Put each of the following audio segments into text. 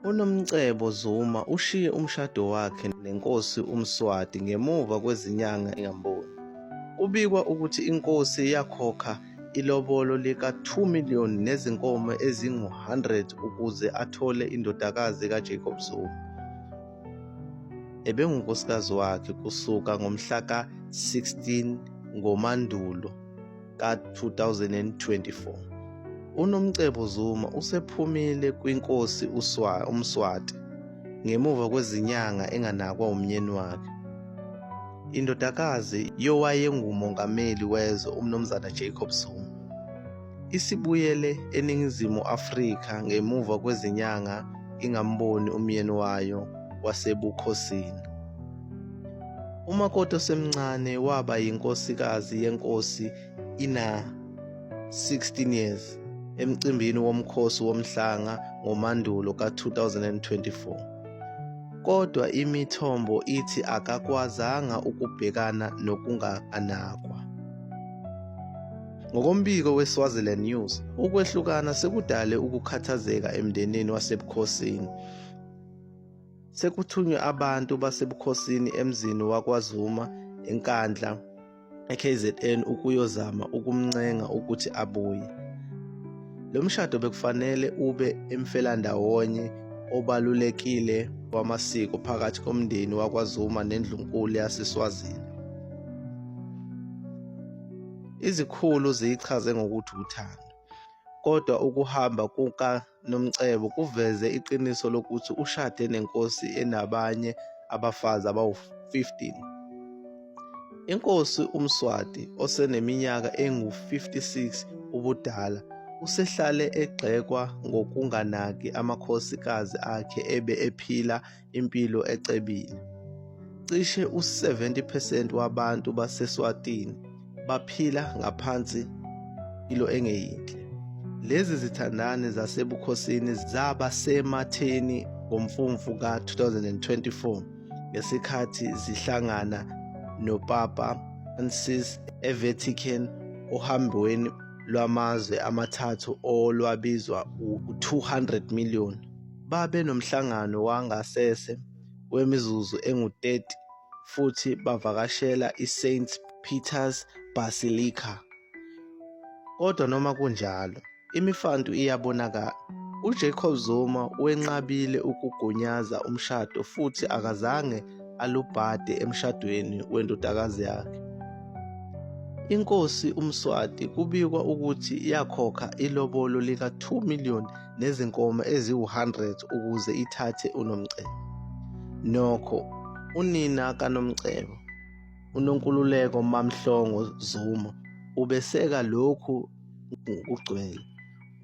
UNomcebo Zuma ushiye umshado wakhe nenkosi uMswati ngemuva kwezinyanga engamboni. Kubikwa ukuthi inkosi yakhokha ilobolo lika-2 million nezinkomo ezingu-100 ukuze athole indodakazi kaJacob Zuma ebengunkosikazi wakhe kusuka ngomhla ka-16 ngoMandulo. ka-2024. UNomcebo Zuma usephumile kwinkosi uMswati ngemuva kwezinyanga enganakwa umnyeni wakhe. Indodakazi yowayengumongameli wezwe uMnumzana Jacob Zuma isibuyele eNingizimu Afrika ngemuva kwezinyanga ingamboni umyeni wayo wasebukhosini. umakoti osemncane waba yinkosikazi yenkosi ina 16 years emcimbini womkhosi womhlanga ngoMandulo ka-2024. Kodwa imithombo ithi akakwazanga ukubhekana nokunganakwa. Ngokombiko weSwaziland News, ukwehlukana sekudale ukukhathazeka emndenini wasebukhosini Sekuthunywe abantu basebukhosini emzini wakwaZuma eNkandla eKZN ukuyozama ukumncenga ukuthi abuye. Lo mshado bekufanele ube emfelandawonye obalulekile wamasiko phakathi komndeni wakwaZuma nendlunkulu yaseSwazini. Izikhulu ziyichaze ngokuthi uthando, kodwa ukuhamba kuka Nomcebo kuveze iqiniso lokuthi ushade nenkosi enabanye abafazi abawu-15. Inkosi uMswati oseneminyaka engu-56 ubudala usehlale egxekwa ngokunganaki amakhosikazi akhe ebe ephila impilo ecebile. Cishe u-70 percent wabantu baseSwatini baphila ngaphansi ilo engeyinhle. Lezi zithandani zasebukhosini zaba sematheni ngomfumfu ka-2024 ngesikhathi zihlangana noPapa Francis eVatican ohambweni lwamazwe amathathu olwabizwa u-200 million. Babe nomhlangano wangasese wemizuzu engu-30 futhi bavakashela iSaint Peter's Basilica. Kodwa noma kunjalo, imifantu iyabonakala. UJacob Zuma wenqabile ukugunyaza umshado futhi akazange alubhade emshadweni wendodakazi yakhe. Inkosi uMswati kubikwa ukuthi yakhokha ilobolo lika-2 million nezinkomo eziwu-100 ukuze ithathe uNomcebo. Nokho unina kaNomcebo, uNonkululeko MaMhlongo Zuma, ubeseka lokhu ngokugcwele.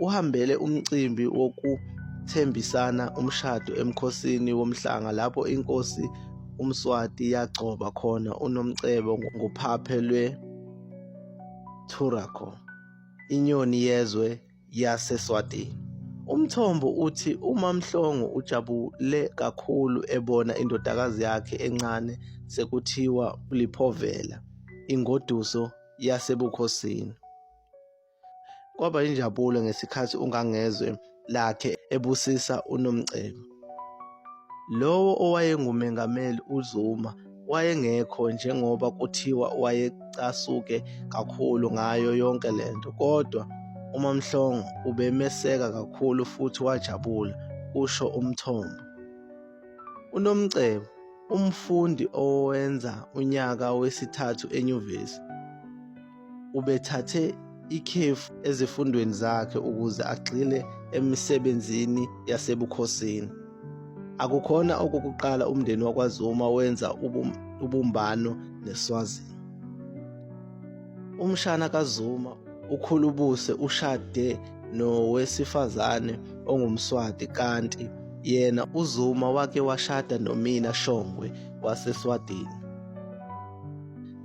Uhambele umcimbi wokuthembisana umshado emkhosini womhlanga lapho inkosi uMswati yagcoba khona uNomcebo ngophaphe lwe-Turaco, inyoni yezwe yaseSwatini. Umthombo uthi uMaMhlongo ujabule kakhulu ebona indodakazi yakhe encane sekuthiwa uliphovela ingoduso yasebukhosini. Kwaba injabulo ngesikhathi uNgangezwe lakhe ebusisa uNomcebo. Lowo owayengumengameli uZuma wayengekho njengoba kuthiwa wayecasuke kakhulu ngayo yonke le nto kodwa uMamhlongo ubemeseka kakhulu futhi wajabula, kusho umthombo. UNomcebo, umfundi owenza unyaka wesithathu enyuvesi, ubethathe ikhefu ezifundweni zakhe ukuze agxile emisebenzini yasebukhosini. Akukhona okokuqala umndeni wakwaZuma wenza ubumbano neSwazini. Umshana kaZuma uKhulubuse ushade nowesifazane ongumSwati kanti yena uZuma wake washada noMina Shongwe waseSwatini.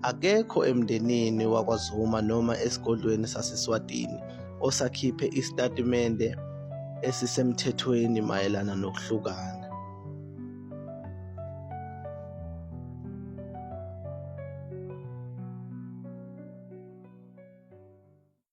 Akekho emndenini wakwaZuma noma esigodlweni saseSwatini osakhiphe isitatimende esisemthethweni mayelana nokuhlukana.